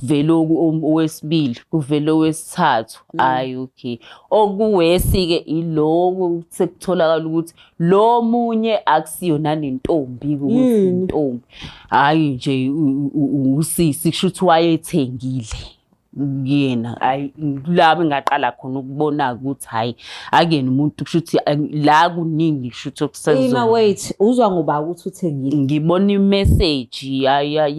kuvele owesibili kuvele owesithathu hayi mm. okay okuwesi-ke iloko sekutholakala ukuthi lo munye akusiyona nentombi kuzintombi hhayi nje usisi kusho ukuthi wayethengile kuyena hayi kulabo engaqala khona ukubona ukuthi hayi akuyena umuntu kusho ukuthi la kuningi kusho ukuthi okusenzo ima wait uzwa ngoba ukuthi uthengile ngibona imessage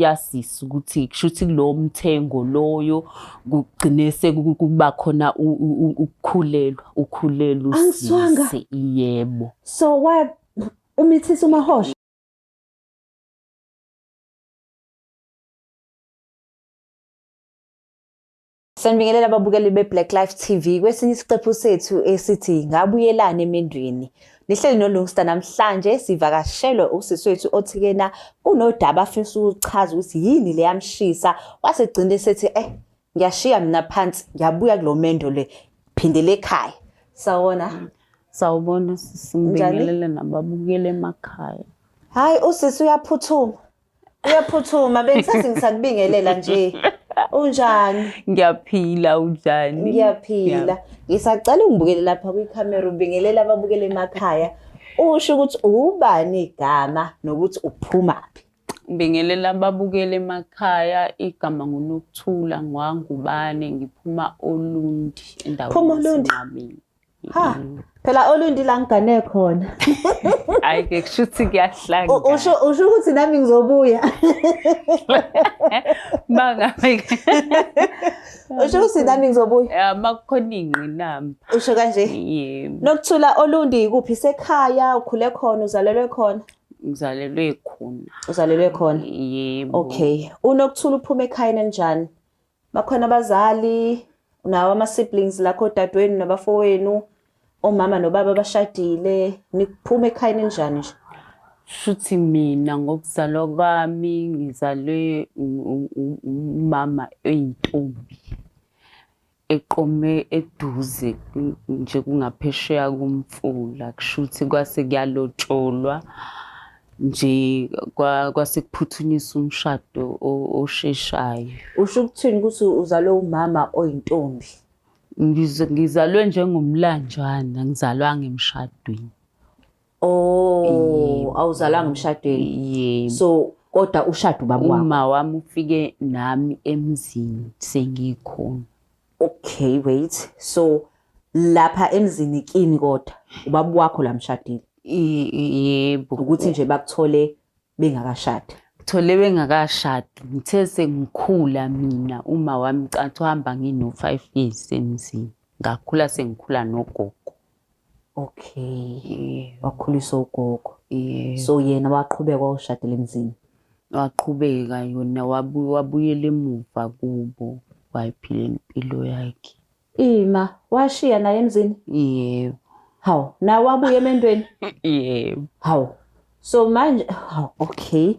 yasisi ukuthi kushuthi kulowo mthengo loyo kugcine sekuba khona ukukhulelwa ukhulelwa usisi yebo so wa umithisa umahosha Sanibingelela ababukeli be-Black Life TV kwesinye isiqephu sethu esithi ngabuyelani emendweni. Nihleli noLungsta namhlanje sivakashelwe usisi wethu othikena kunodaba afisa ukuchaza ukuthi yini leyamshisa wasegcina esethi eh ngiyashiya mina phansi ngiyabuya kulo mendo le phindele ekhaya. Sawona. Sawubona sisi ngibingelele nababukeli emakhaya. Hayi usisi uyaphuthuma. uyaphuthuma bengisathi ngisakubingelela nje unjani ngiyaphila unjani ngiyaphila ngisacela ungibukele lapha kwikhamera ubingelela ababukele emakhaya usho ukuthi ubani igama nokuthi uphumaphi ngibingelela ababukele emakhaya igama ngunokuthula ngwangubane ngiphuma olundi endaweni phuma olundi ha phela olundi la ngigane khona hayi ke kusho ukuthi kuyahlanga U- usho usho ukuthi nami ngizobuya bangabe usho ukuthi nami ngizobuya uma kukhona ingqinamba usho kanje yebo nokuthula olundi kuphi sekhaya ukhule khona uzalelwe khona ngizalelwe khona uzalelwe khona yebo okay unokuthula uphuma ekhayeni elinjani bakhona abazali nawo ama-siblings lakho odadewenu nabafowenu omama nobaba abashadile niphuma ekhayeni elinjani nje shuthi mina ngokuzalwa kwami ngizalwe umama oyintombi eqome eduze nje kungaphesheya kumfula kushuthi kwase kuyalotsholwa nje kwasekuphuthunisa umshado osheshayo usho ukuthini ukuthi uzalwe umama oyintombi ngizalwe njengomlanjwana ngizalwanga emshadweni oh awuzalanga emshadweni yebo so kodwa ushada ubaba wami uma wami ufike nami emzini sengikhona okay wait so lapha emzini kini kodwa ubaba wakho la mshadile I- i- yebo ukuthi nje bakuthole bengakashadi thole bengakashadi ngithe sengikhula mina uma wami cathi uhamba ngino-five years emzini ngakhula sengikhula nogogo okay yebo wakhuliswa ugogo yebo so yena waqhubeka wawushadela emzini waqhubeka yona wabu- wabuyela emuva kubo wayiphila impilo yakhe ima washiya naye emzini yebo hawu naye wabuya emendweni yebo hawu so manje hawu okay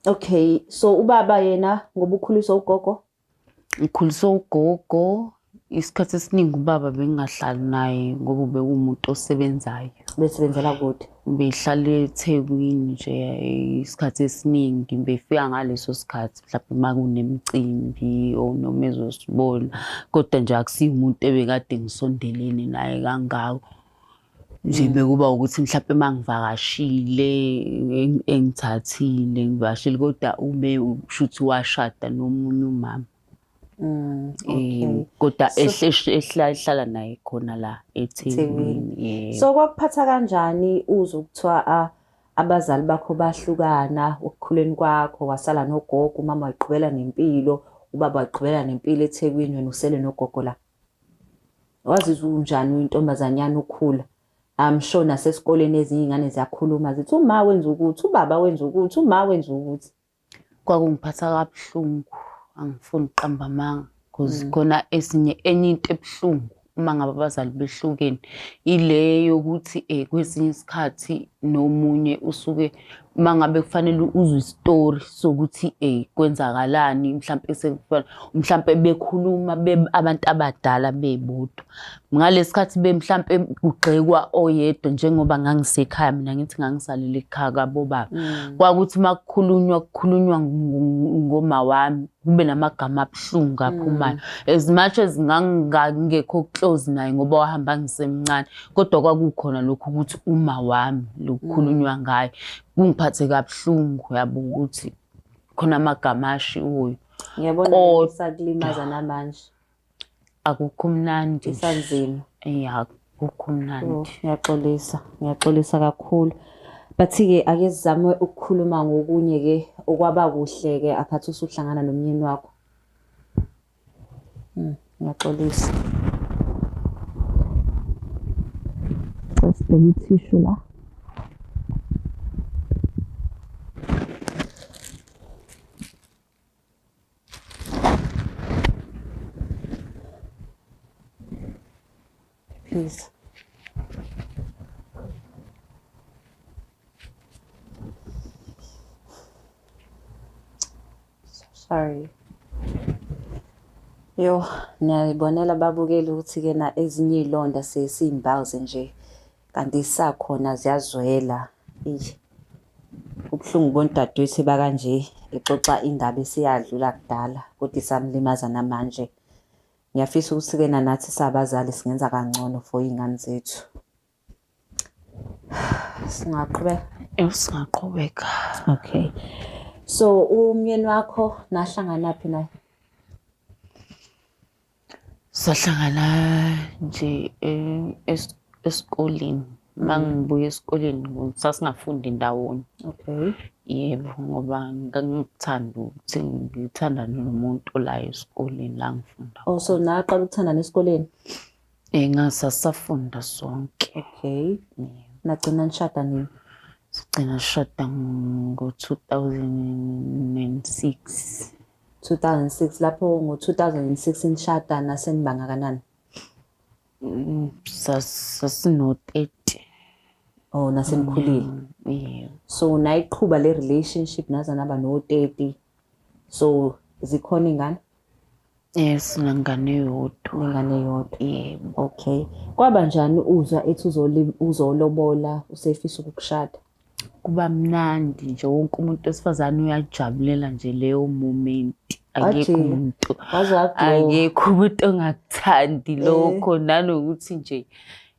okay so ubaba yena ngoba ukhuliswa ugogo Ngikhuliswe ugogo isikhathi esiningi ubaba bengingahlali naye ngoba ubekuwumuntu osebenzayo besebenzela kude behlala ethekwini nje isikhathi esiningi befika ngaleso sikhathi mhlawumbe uma kunemicimbi or noma ezosibona kodwa nje akusiyi umuntu ebekade ngisondelene naye kangako nje mm. bekuba ukuthi mhlawumbe mangivakashile engithathile ngivashile kodwa ube ushuthi washada nomunye umama Mm, eh, kodwa ehlala naye khona la eThekwini so kwakuphatha kanjani uze ukuthiwa abazali bakho bahlukana ukukhuleni kwakho wasala nogogo umama wayiqhubela nempilo ubaba wayiqhubela nempilo eThekwini wena usele nogogo la wazizwa unjani uyintombazanyana ukhula I'm sure nasesikoleni ezinye iy'ngane ziyakhuluma zithi uma wenza ukuthi ubaba wenza ukuthi uma wenza ukuthi kwakungiphatha kabuhlungu angifuni ukuqamba amanga because mm. khona esinye enye into ebuhlungu uma ngabe abazali behlukene ile yokuthi um kwesinye isikhathi nomunye usuke uma ngabe kufanele uzwe isitori sokuthi ey kwenzakalani mhlampe sekufana mhlampe bekhuluma abantu abadala bebodwa ngalesikhathi bemhlampe kugxekwa oyedwa njengoba ngangisekhaya mina ngithi ngangisalele ekhaya kabobaba mm. kwakuthi uma kukhulunywa kukhulunywa ngoma wami kube namagama abuhlungu aphumayo mm. as much as ngangingekho close naye ngoba wahamba ngisemncane kodwa kwakukhona lokhu ukuthi uma wami lokukhulunywa mm. ngayo kungiphathe kabuhlungu yabo ukuthi khona amagama ashiwoyo ngiyabona sakulimaza namanje akukho mnandi isanzima ya akukho mnandi oh, ngiyaxolisa ngiyaxolisa kakhulu bathi-ke ake sizame ukukhuluma ngokunye-ke okwaba kuhle-ke aphathi usuhlangana nomyeni wakho Hmm, ngiyaxolisa. Sesibheka ithishu la. Please. Sorry. Yo, niyayibonela babukeli ukuthi-ke na ezinye iy'londa sesiy'mbawuze nje kanti zisakhona ziyazwela. Eish. Kubuhlungu ukubona udadewethu eba kanje exoxa indaba eseyadlula kudala kodwa isamlimaza namanje. Ngiyafisa ukuthi ke nanathi sabazali singenza kangcono for iy'ngane zethu. Singaqhubeka? Eh, singaqhubeka. Okay. So umyeni wakho nahlangana phi naye? Sahlangana nje eh, es- esikoleni. uma mm. ngibuya esikoleni sasingafundi ndawonye okay yebo ngoba ngangikuthanda ukuthi ngithandane nomuntu olayo esikoleni la ngifunda oh so naqala ukuthandana esikoleni eh ngasasafunda sonke okay nagcina nishada nini sigcina sishada ngo-2006 2006 lapho ngo-2006 nishada nasenibanga kanani Mm, sas- Sasino-30. Oh, nasenikhulile. Mm, Yeah. So nayiqhuba le relationship naze naba no-30. So zikhona ingane Yes, nengane yodwa. nengane yodwa. Yebo. Okay. Kwaba njani uzwa ethi uzoli- uzolobola usefisa ukukushada? kuba mnandi nje wonke umuntu wesifazane uyajabulela nje leyo moment akekho umuntu akekho umuntu ongakuthandi eh. lokho nanokuthi nje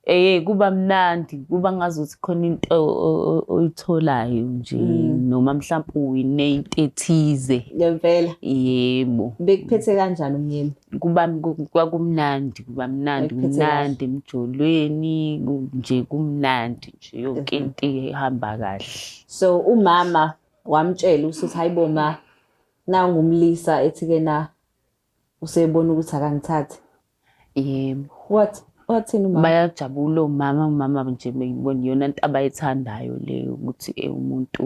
eh kuba mnandi kuba ngazuthi khona into oyitholayo nje mm. noma mhlawumbe uwine into ethize ngempela yebo bekuphethe kanjani umyeni kuba kwakumnandi kuba mnandi kumnandi emjolweni nje kumnandi yonke into ihamba kahle so umama wamtshela usuthi hayibo ma na ngumlisa ethi ke na usebona ukuthi akangithathi yebo what wathini umama bayajabula umama umama nje beyibona iyona into abayithandayo le ukuthi eh, umuntu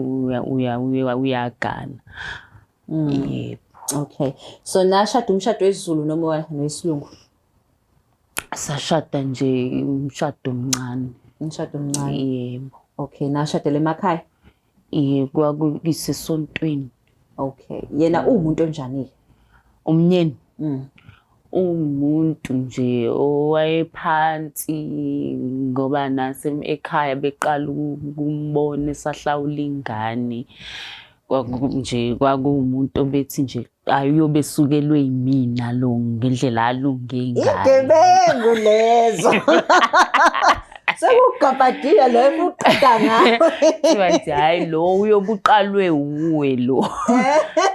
uyagana mm. yebo okay so nashada umshado wesiZulu noma wesilungu sashada nje umshado omncane umshado omncane yebo okay nashadele emakhaya yebo kwakuyisesontweni okay yena uwumuntu onjani umnyeni mm. umuntu nje owayephansi ngoba nase ekhaya beqala ukumbona esahlawula ingane kwakunje kwakuwumuntu obethi nje ayobe sukelwe yimina lo ngendlela alunge ngayo igebengu lezo sekugabhadile lo ebuqeda ngayo bathi hayi lo uyobuqalwe wuwe lo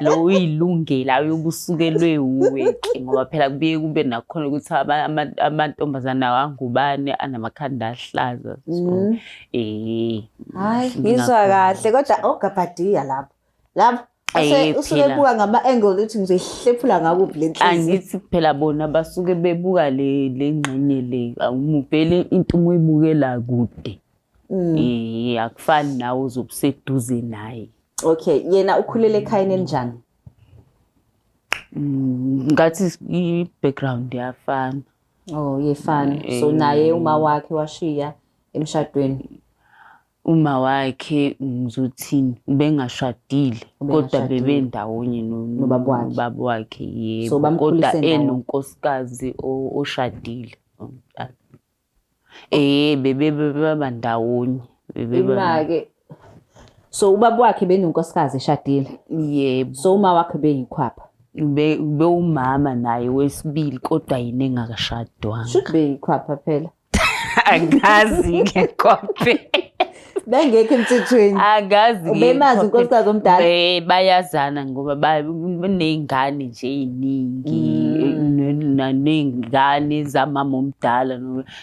lo uyilungele ayobusukelwe wuwe ke ngoba phela kubuye kube nakhona ukuthi amantombazana angubane anamakhanda ahlaza so mm. eh hayi ngizwa kahle kodwa ogabhadiya lapho lapho Ase- usuke phela. ebuka ngama-angle ukuthi ngizoyihlephula ngakuphi le nhliziyo angithi phela bona basuke bebuka le le ngxenye le awumubhele into uma uyibukela kude Mm. eh akufani nawe uzobuseduze naye okay yena ukhulele ekhayeni elinjani Mm, ngathi s- i background yafana oh yefana so Eh. naye uma wakhe washiya emshadweni uma wakhe ngizothini ubengashadile kodwa bebe ndawonye nobaba wakhe yebo kodwa enonkosikazi oshadile omdala eh bebe baba ndawonye imake so ubaba wakhe benonkosikazi eshadile yebo so uma wakhe beyikhwapha be umama naye wesibili kodwa yini engakashadwanga should be ikhwapha phela angazi-ke kwabe bengekho emthethweni angazi ubemazi unkosikazi omdala bayazana ngoba baney'ngane nje ey'ningi mm. ney'ngane zamama omdala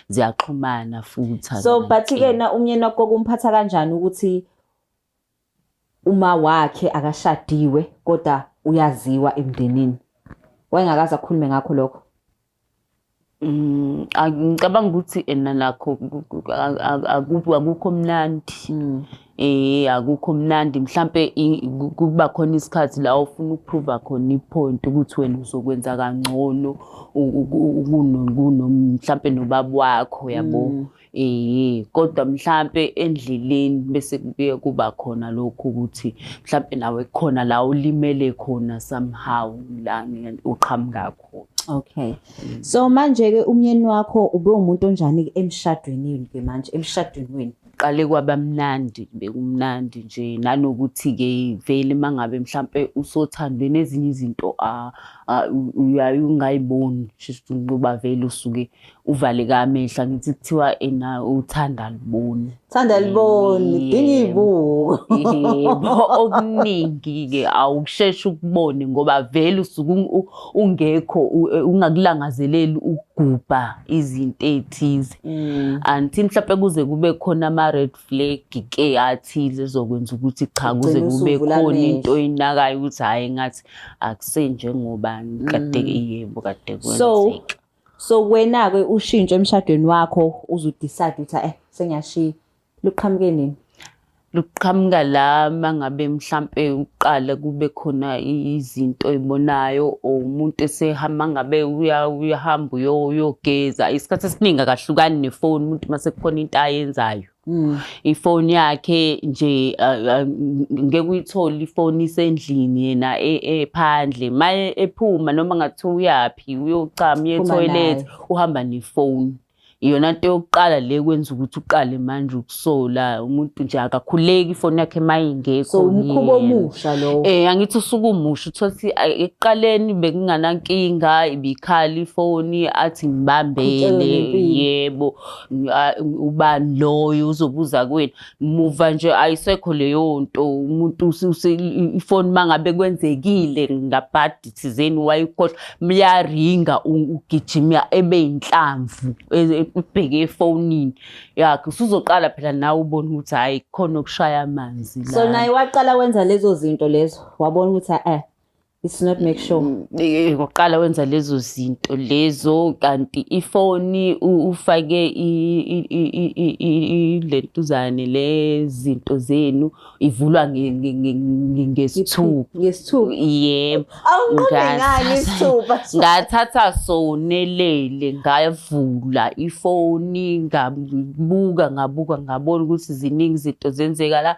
ziyaxhumana futhi so but-ke na umnyeni wakho kumphatha kanjani ukuthi uma wakhe akashadiwe kodwa uyaziwa emndenini wayengakaze akhulume ngakho lokho Mm, a- ngicabanga ukuthi ena nakho ku- ku- a- a- akubu- akukho mnandi Mm. eh akukho mnandi mhlambe i- ku- kuba khona isikhathi la ofuna ukuprova khona ipoint ukuthi wena uzokwenza kangcono u- u- u- kuno- kuno- mhlambe nobaba wakho yabo Eyi kodwa mhlampe endleleni bese kubuye kuba khona lokhu ukuthi mhlampe nawe khona la ulimele khona somehow la uqhamuka khona. Okay. So manje ke umyeni wakho ube umuntu onjani emshadweni yini ke manje emshadweni wenu? Qale kwabamnandi bekumnandi nje nanokuthi ke vele mangabe mhlambe usothandwe nezinye izinto a uyayungayiboni shuthi ngoba vele usuke uvaleke amehla ngithi kuthiwa ena uthanda liboni thanda liboni dinga ibuko yebo okuningi ke awusheshe ukubone ngoba vele usuku ungekho e, ungakulangazeleli ukugubha izinto ezithize mm. anti mhlawumbe kuze kube khona ama red flag ke athize zokwenza ukuthi cha kuze kube khona into oyinakayo ukuthi hayi ngathi akusenje ngoba kade mm. yebo kade kwenzeka so wena-ke ushintsho emshadweni wakho uzudecide ukuthi eh sengiyashiya luqhamuke nini luqhamuka la mangabe mhlampe uqala kube khona izinto oyibonayo or umuntu esehamba ngabe uya- uyahamba uyo- uyogeza isikhathi esiningi akahlukani nefoni umuntu uma sekukhona into ayenzayo Mm. ifoni yakhe nje ngeke uyithole ifoni isendlini yena e, ephandle ma ephuma noma ngathiwa uyaphi uyocama uye toilet uhamba nefoni iyona nto yokuqala le kwenza ukuthi uqale manje ukusola umuntu nje akakhuleki ifoni yakhe mayingekho so umkhubo omusha lowo eh angithi usuku umusha uthola ukuthi ekuqaleni bekunganankinga ibikhali ifoni athi ngibambele yebo ubani loyo uzobuza kwenu muva nje ayisekho leyo nto umuntu ifoni uma ngabe kwenzekile ngabhadi thizeni wayikhohlwa myaringa ugijima ebe yinhlamvu ebheke e, efonini yakhe usuzoqala phela nawe ubone ukuthi hhayi khona okushaya amanzi so naye waqala wenza lezo zinto lezo wabona ukuthi eh it's not make sure mm, eh, ngokuqala wenza lezo zinto lezo kanti ifoni ufake ilentuzane lezinto zenu ivulwa ngesithuku ngesithuku yebo ngathatha sonelele ngavula ifoni ngabuka ngabuka ngabona ukuthi ziningi izinto zenzeka la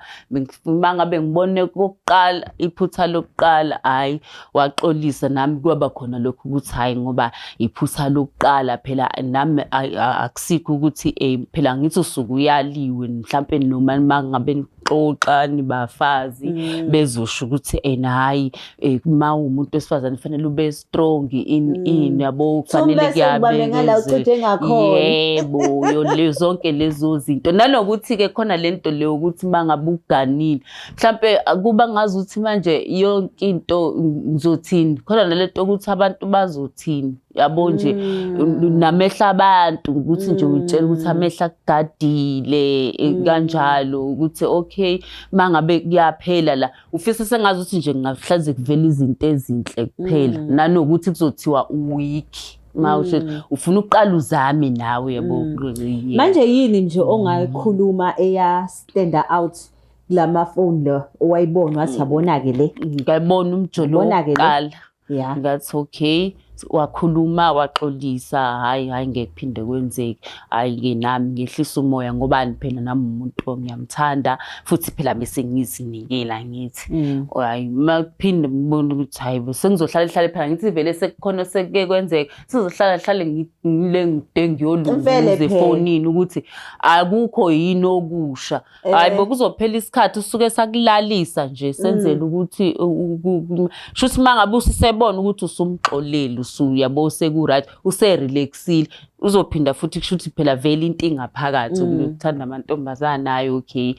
uma ngabe ngibone kokuqala iphutha lokuqala hhayi waxolisa nami kwaba khona lokhu ukuthi hhayi ngoba iphutha lokuqala phela nami akusikho ukuthi um phela ngithi usuke uyaliwe mhlampe noma uma ngabe nixoxa nibafazi mm. bezosho ukuthi ena hhayi Eh uma umuntu wesifazane kufanele ube strong in mm. in yabo kufanele kuyabe ngala ucithe ngakhona. Yebo yo le zonke lezo zinto. Nanokuthi ke khona lento le ukuthi mangabe uganile. Mhlambe kuba ngazi ukuthi manje yonke into ngizothini. Khona nalento ukuthi abantu bazothini. yabo nje mm. namehla abantu ukuthi nje mm. utshela ukuthi amehla kugadile eh, mm. kanjalo ukuthi okay mangabe kuyaphela la ufisa sengazi ukuthi nje kungahlaze kuvela izinto ezinhle kuphela mm. nanokuthi kuzothiwa uweak mawusho mm. ufuna uqala uzame nawe yabo mm. manje yini nje ongayikhuluma eya stand out lama phone lo owayibona wathi yabona ke le ngayibona umjolo wokuqala yeah. that's okay wakhuluma waxolisa hayi hayi ngeke phinde kwenzeke hayi ke nami ngehlisa umoya ngoba phela nami umuntu ngiyamthanda futhi phela bese ngizinikela ngithi mm. hayi makuphinde ngibone ukuthi hayi sengizohlala ihlale phela ngithi vele sekukhona sekuke kwenzeka sizohlala hlale ngile ngide ngiyoluza efonini ukuthi akukho yini okusha hayi eh. bokuzophela isikhathi usuke sakulalisa nje senzele mm. ukuthi sho ukuthi mangabe usisebona ukuthi usumxoleli usuyabo usekuright userelaxile uzophinda futhi kusho ukuthi phela vele into ingaphakathi mm. ukuthanda amantombazana hayi okay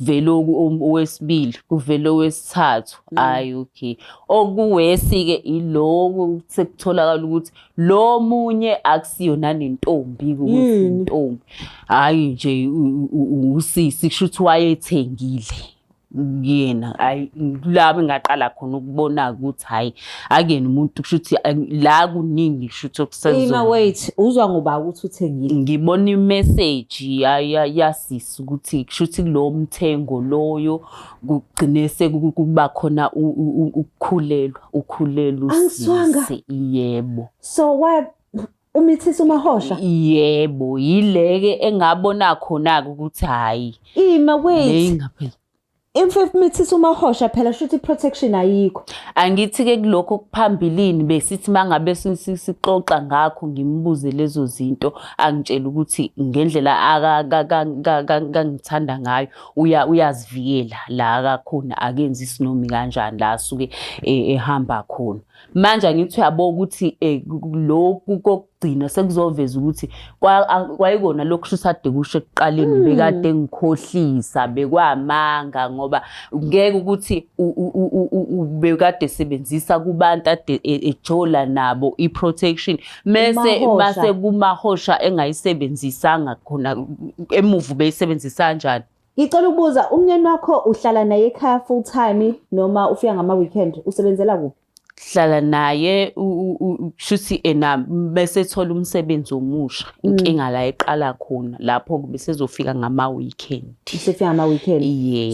vele owesibili kuvele owesithathu mm. hayi okay okuwesi-ke ilowo sekutholakala ukuthi lo munye akusiyona nentombi kuntombi hayi nje usisi kusho ukuthi wayethengile kuyena hayi kulabo ngaqala khona ukubona ukuthi hayi akuyena umuntu kusho ukuthi la kuningi kusho ukuthi okusenzo ima wait uzwa ngoba ukuthi uthengile ngibona imessage yasisi ukuthi kusho ukuthi lo mthengo loyo kugcine sekuba khona ukukhulelwa ukhulelwa usise yebo so what umithisa umahosha yebo yileke engabona khona ukuthi hayi ima wait imfefu mithisa umahosha phela shuthi protection ayikho angithi ke kulokho kuphambilini besithi mangabe sixoxa ngakho ngimbuze lezo zinto angitshela ukuthi ngendlela akangithanda ngayo uya uyazivikela la akakhona akenzi isinomi kanjani la asuke e, ehamba khona manje angithi uyabo ukuthi e, lokhu kokugcina sekuzoveza ukuthi kwayikona lokhu shisade kusho ekuqaleni hmm. bekade ngikhohlisa bekwamanga ngoba ngeke ukuthi bekade sebenzisa kubantu ade e, ejola nabo iprotection mese base kumahosha engayisebenzisanga khona emuva beyisebenzisa kanjani ngicela ukubuza umnyeni wakho uhlala naye ekhaya full time noma ufika ngama weekend usebenzela kuphi hlala naye shuthi ena bese thola umsebenzi omusha mm. inkinga la eqala khona lapho bese zofika ngama weekend sefika ngama weekend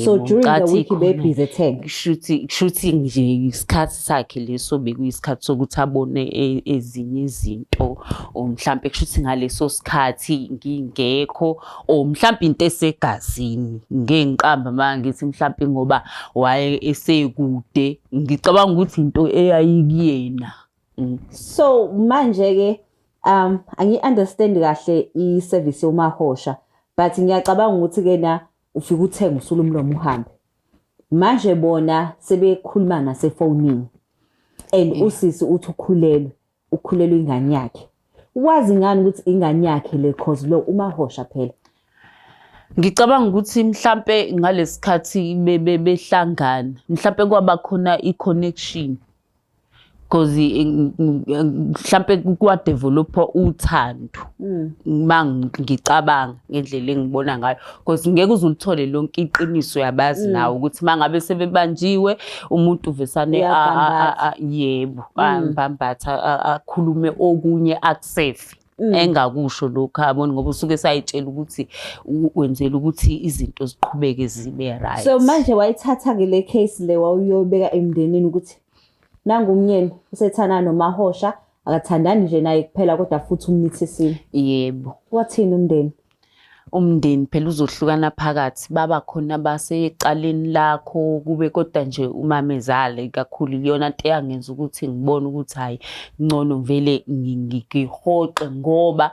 so during the week be busy tag shuthi shuthi nje isikhathi sakhe leso bekuyisikhathi sokuthi abone e, ezinye izinto or mhlampe kusho ukuthi ngaleso sikhathi ngingekho or mhlampe into esegazini ngengiqamba manje ngithi mhlampe ngoba waye esekude ngicabanga ukuthi into eyayikuyena mm. so manje ke um angi understand kahle i service yomahosha but ngiyacabanga ukuthi ke na ufike uthenge usula umlomo uhambe manje bona sebekhuluma nasefonini and mm. usisi uthi ukhulelwe ukhulelwe ingane yakhe wazi ngani ukuthi ingane yakhe le cause lo umahosha phela ngicabanga ukuthi mhlampe ngalesikhathi behlangana mhlampe kwabakhona i-connection because eh, mhlambe kwa developer uthando mm. uma ngicabanga ngendlela engibona ngayo because ngeke uzulithole lonke iqiniso yabazi mm. nawo ukuthi mangabe sebebanjiwe umuntu uvesane yebo mm. ambambatha akhulume okunye akusefi Mm. engakusho lokho aboni ngoba usuke sayitshela ukuthi wenzela ukuthi izinto ziqhubeke zibe right so manje wayithatha ke le case le wawuyobeka emndenini ukuthi nangu umnyeni usethana nomahosha akathandani nje naye kuphela kodwa futhi umnithisile yebo wathini umndeni umndeni phela uzohlukana phakathi baba khona basecaleni lakho kube kodwa nje umamezale kakhulu iyona nto eyangenza ukuthi ngibone ukuthi hhayi ngcono ngivele ngihoxe ngoba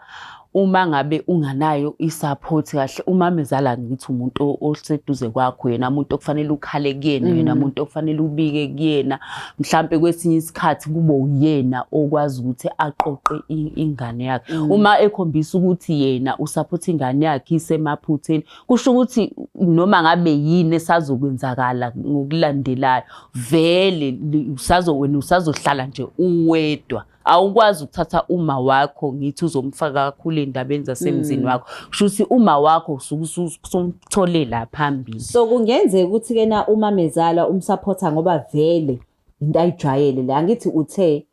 uma ngabe unganayo i-support kahle umamezala ngithi umuntu oseduze kwakho yena muntu okufanele ukhale kuyena yena mm. muntu okufanele ubike kuyena mhlampe kwesinye isikhathi kube uyena okwazi ukuthi aqoqe ingane yakhe mm. uma ekhombisa ukuthi yena usupport ingane yakhe isemaphutheni kusho ukuthi noma ngabe yini esazokwenzakala ngokulandelayo vele usazo wena usazohlala nje uwedwa awukwazi ukuthatha uma wakho ngithi uzomfaka kakhulu endabeni zasemzini mm. wakho kusho ukuthi uma wakho usumthole la phambili so kungenzeka ukuthi ke na uma mezala umsupporter ngoba vele into ayijwayele le angithi uthe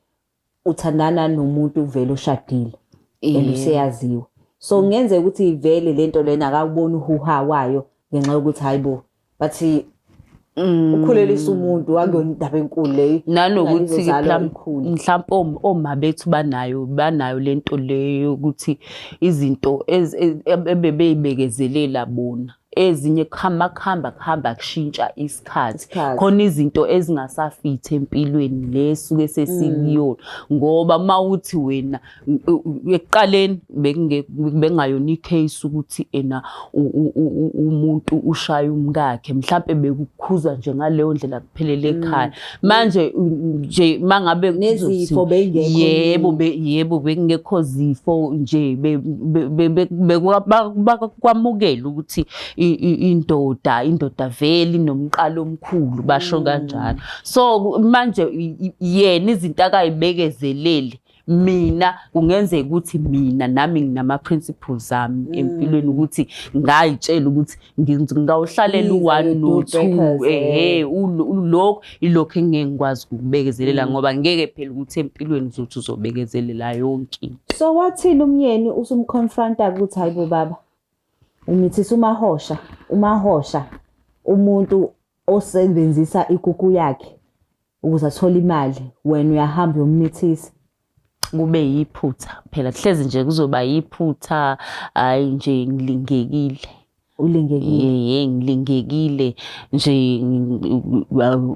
uthandana nomuntu vele oshadile eluseyaziwa so kungenzeka ukuthi vele lento lena akakuboni uhuha wayo ngenxa yokuthi hayibo but mm, ukhulelisa umuntu akuyona indaba enkulu leyo nanokuthi Ingane izozalwa mhlam- ikhule. mhlampe om- oma bethu banayo banayo lento leyo yokuthi izinto ez- e- ebe- bebeyibekezelela bona ezinye kuhamba kuhamba kuhamba kushintsha isikhathi Isikhathi. khona izinto ezingasafithi empilweni le suke sesikuyona ngoba uma uthi wena ekuqaleni bekungayona i-case ukuthi ena umuntu ushaya umkakhe mhlampe bekukhuza nje ngaleyo ndlela kuphelele mm. ekhaya manje nje mangabe nezifo bengekho yebo yebo bekungekho zifo nje bakwamukela ukuthi indoda indoda vele inomqalo omkhulu basho mm. kanjalo so manje yena izinto akayibekezeleli mina kungenzeka ukuthi mina nami nginama-principles ami mm. empilweni ukuthi ngayitshela ukuthi ngingawuhlalela u-one no-two ehe lokho ilokho engeke ngikwazi ukubekezelela mm. ngoba ngeke phela ukuthi empilweni uzothi uzobekezelela yonke into so wathini umyeni usumconfronta ukuthi hayi bo baba umithisa umahosha umahosha umuntu osebenzisa ikuku yakhe ukuze athole imali wena uyahamba uyomithisa kube yiphutha phela kuhlezi nje kuzoba yiphutha hayi nje ngilingekile ulingekile ye ngilingekile nje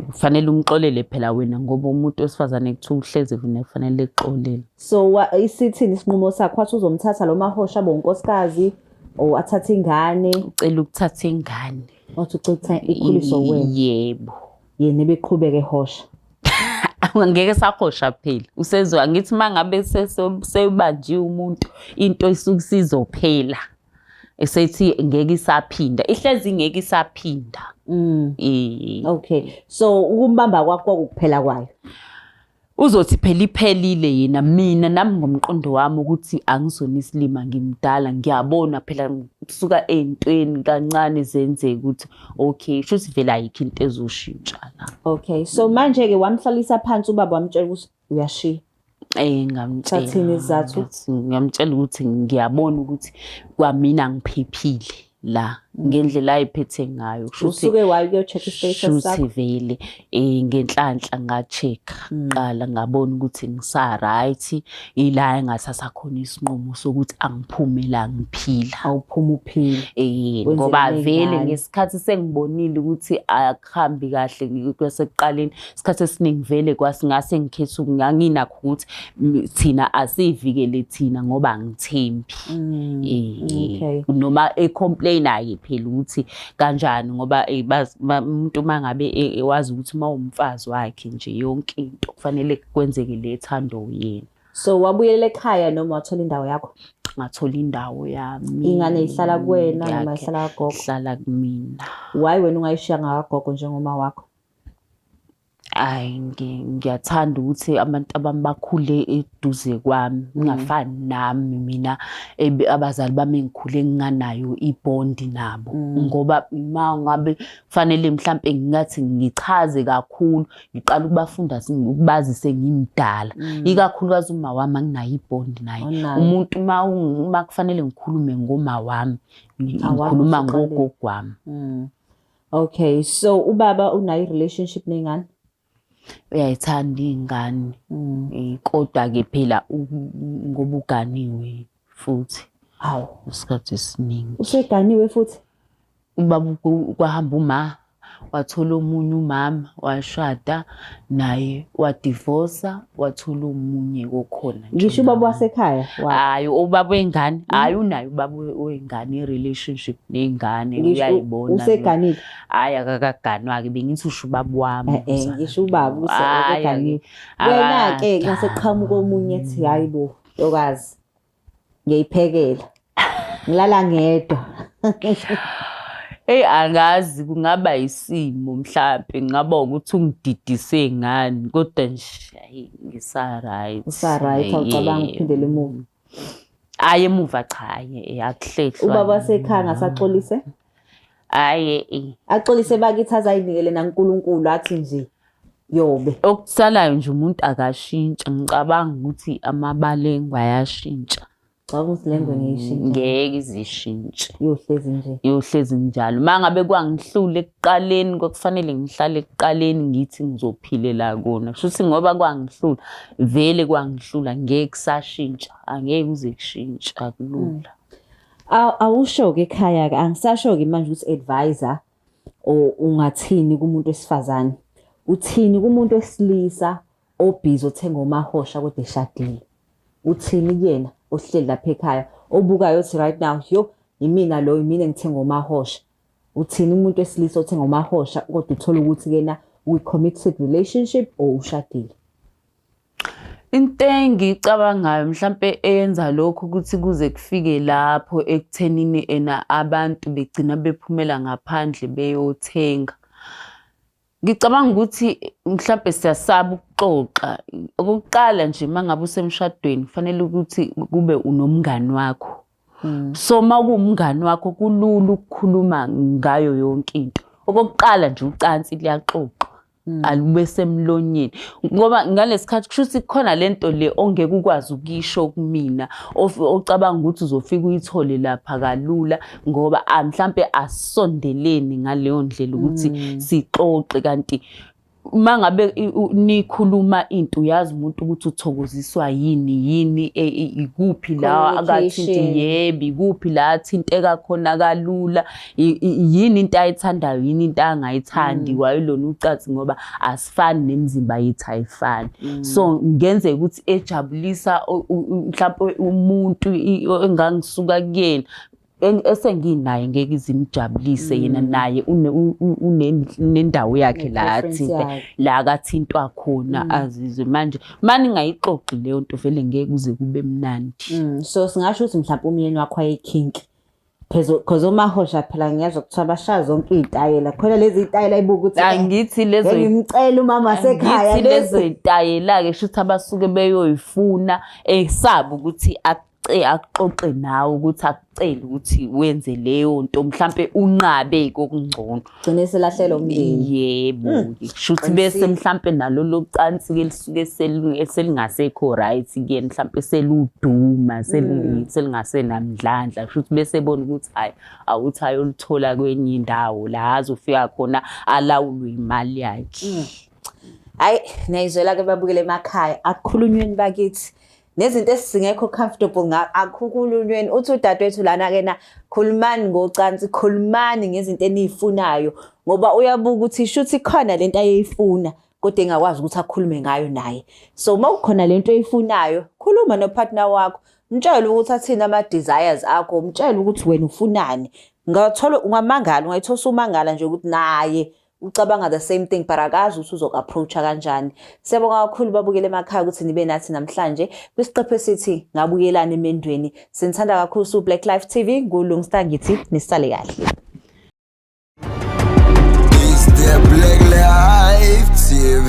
kufanele umxolele phela wena ngoba umuntu wesifazane kuthiwa uhlezi vune kufanele exolele so isithini isinqumo sakho wathi uzomthatha lo mahosha bonkosikazi or athathe ingane ucela ukuthatha ingane Wathi ucetha ikhuliso wena. Yebo. Yena ebeqhubeke hosha. ngeke sahosha phela usezwa ngithi mangabe sebanjiwe umuntu into isuke sizophela esethi ngeke isaphinda ihlezi ngeke isaphinda mm. okay so ukumbamba kwakho kuphela kwayo Uzothi phela iphelile yena mina nami ngomqondo wami ukuthi angizona isilima ngimdala ngiyabona phela kusuka ey'ntweni kancane zenzeka ukuthi okay sho ukuthi vele ayikho into ezoshintsha la okay so manje-ke wamhlalisa phansi ubaba wamtshela ukuthi uyashiya Eh ngamtshela. Ngamtshela ukuthi ngiyabona ukuthi kwamina ngiphephile. la mm. ngendlela ayiphethe ngayo usuke waye kuyocheck istatus sakho vele eh ngenhlanhla nga check mm. qala ngabona ukuthi ngisa right ila engathatha khona isinqumo sokuthi angiphumela ngiphila awuphuma uphila eh ngoba vele ngesikhathi sengibonile ukuthi akuhambi kahle kwasekuqaleni isikhathi esiningi vele kwasingase ngikhethe nganginakho ukuthi thina asivikele thina ngoba angithembi mm, eh, noma ecomplain aye phela ukuthi kanjani ngoba eh, umuntu uma ngabe eh, wazi ukuthi uma umfazi wakhe nje yonke into kufanele kwenzeke le thando yena so wabuyela ekhaya noma wathola indawo yakho ngathola indawo yami ingane ihlala kuwena noma ihlala kagogo ihlala kumina why wena ungayishiya ngakagogo njengoma wakho Ayi ngiyathanda ukuthi abantu abami bakhule eduze kwami mm. ngingafani nami mina abazali bami engikhule nginganayo ibond nabo mm. ngoba uma ngabe kufanele mhlampe ngingathi ngichaze kakhulu ngiqala ukubafunda ukubazi sengimdala mm. ikakhulukazi uma wami anginayo ibond naye umuntu uma uma kufanele ngikhulume ngoma wami ngikhuluma ngogogo wami Okay, so ubaba unayo relationship nengane? Uyayithanda ingane. Mm. Eh, kodwa ke phela ngoba uganiwe futhi. Hawu, isikhathi esiningi. Useganiwe futhi? Ubaba kwahamba uma wathola omunye umama washada naye wadivosa wathola omunye kokhona ngisho ubaba wasekhaya hayi ubaba wengane mm. hayi unayo ubaba wengane i-relationship ney'ngane uyayibona useganile hayi akakaganwa-ke bengithi usho ubaba wami eh, eh, ngisho ubaba useganile wena-ke ngaseqhamuka omunye ethi hayi bo yokazi ngiyayiphekela ngilala ngedwa Eyi angazi kungaba isimo mhlampe ngaba ukuthi ungididise ngani kodwa nje ayi ngisa-right. Usa-right awucabangi ukuphindela emuva. Hhayi emuva cha hhayi akuhlehli. Ubaba wasekhaya ngasaxolise? hayi eh. axolise bakithi azayinikele nankulunkulu athi nje yobe okusalayo nje umuntu akashintsha ngicabanga ukuthi amabalengwe ayashintsha Caba ukuthi lengwe mm, ngiyishintshe. Ngeke izishintshe. Yohlezi nje. Yohlezi njalo. Mangabe kwangihlule ekuqaleni kwakufanele ngihlale ekuqaleni ngithi ngizophilela kona. Shuthi ngoba kwangihlula vele kwangihlula ngeke kusashintsha. Angeke ngize kushintsha kulula. Mm. awusho-ke ekhaya-ke angisasho-ke manje ukuthi advisor or ungathini kumuntu wesifazane uthini kumuntu wesilisa obhizi othenga omahosha kodwa eshadile uthini kuyena ohleli lapha ekhaya obukayo othi right now yo yimina lo yimina engithenga omahosha uthini umuntu wesilisa othenga omahosha kodwa uthola ukuthi kena we committed relationship or ushadile Into engiyicabangayo mhlampe eyenza lokho ukuthi kuze kufike lapho ekuthenini ena abantu begcina bephumela ngaphandle beyothenga. Ngicabanga ukuthi mhlampe siyasaba ukuxoxa. Okokuqala nje uma ngabe usemshadweni kufanele ukuthi kube unomngani wakho. Hmm. So uma kuwumngani wakho kulula ukukhuluma ngayo yonke into. Okokuqala nje ucansi luyaxoxa. Mm. alube semlonyeni ngoba ngalesikhathi kusho ukuthi khona lento le ongeke ukwazi ukisho kumina ocabanga ukuthi uzofika uyithole lapha kalula ngoba ah, mhlambe asondeleni ngaleyo ndlela ukuthi mm. sixoxe kanti mangabe nikhuluma into uyazi umuntu ukuthi uthokoziswa yini yini e, e, ikuphi la akathinte yebi kuphi la athinteka khona kalula yini into ayithandayo yini into angayithandi mm. wayelona ucansi ngoba asifani nemizimba yethu ayifani mm. so ngenzeka ukuthi ejabulisa mhlawumbe umuntu engangisuka kuyena esenginaye ngeke izimjabulise mm. yena naye unendawo yakhe la athinte la akathintwa khona mm. azizwe manje mani ngayixoxi leyo nto vele ngeke kuze kube mnandi mm. so singasho ukuthi mhlawumbe umyeni wakho ayekhinki Cause omahosha phela ngiyazwa kuthiwa bashaya zonke iy'tayela khona lezi y'tayela ibuka ukuthi eh, angithi lezo ngimcela umama sekhaya ngithi lezo y'tayela-ke shuthi abasuke beyoyifuna esaba eh, ukuthi akuxoxe nawe ukuthi akucele ukuthi wenze leyo nto mhlampe unqabe kokungcono gcine selahlelwa umndeni yebo hmm. shuthi bese mhlampe nalo locansi ke lisuke selingasekho right ke mhlampe seluduma hmm. selingase namdlandla shuthi bese ebona ukuthi hayi awuthi ayolithola kwenye indawo la azofika khona alawulwe imali yakhe hmm. hayi nayizwela ke babukele emakhaya akukhulunyweni bakithi nezinto esingekho comfortable ngakho akhukululweni uthi udadewethu lana kena khulumani ngocansi khulumani ngezinto eniyifunayo ngoba uyabuka ukuthi shuthi khona lento ayeyifuna kodwa engakwazi ukuthi akhulume ngayo naye so uma kukhona lento oyifunayo khuluma nopartner wakho mtshele ukuthi athini ama desires akho mtshele ukuthi wena ufunani ngathola ungamangala ungayithosa umangala nje ukuthi naye ucabanga the same thing but akazi ukuthi uzoku approacha kanjani siyabonga kakhulu babukele emakhaya ukuthi nibe nathi namhlanje kwisiqephu esithi ngabuyelana emendweni sinithanda kakhulu su Black Life TV ngulungsta ngithi nisale kahle Is there Black Life TV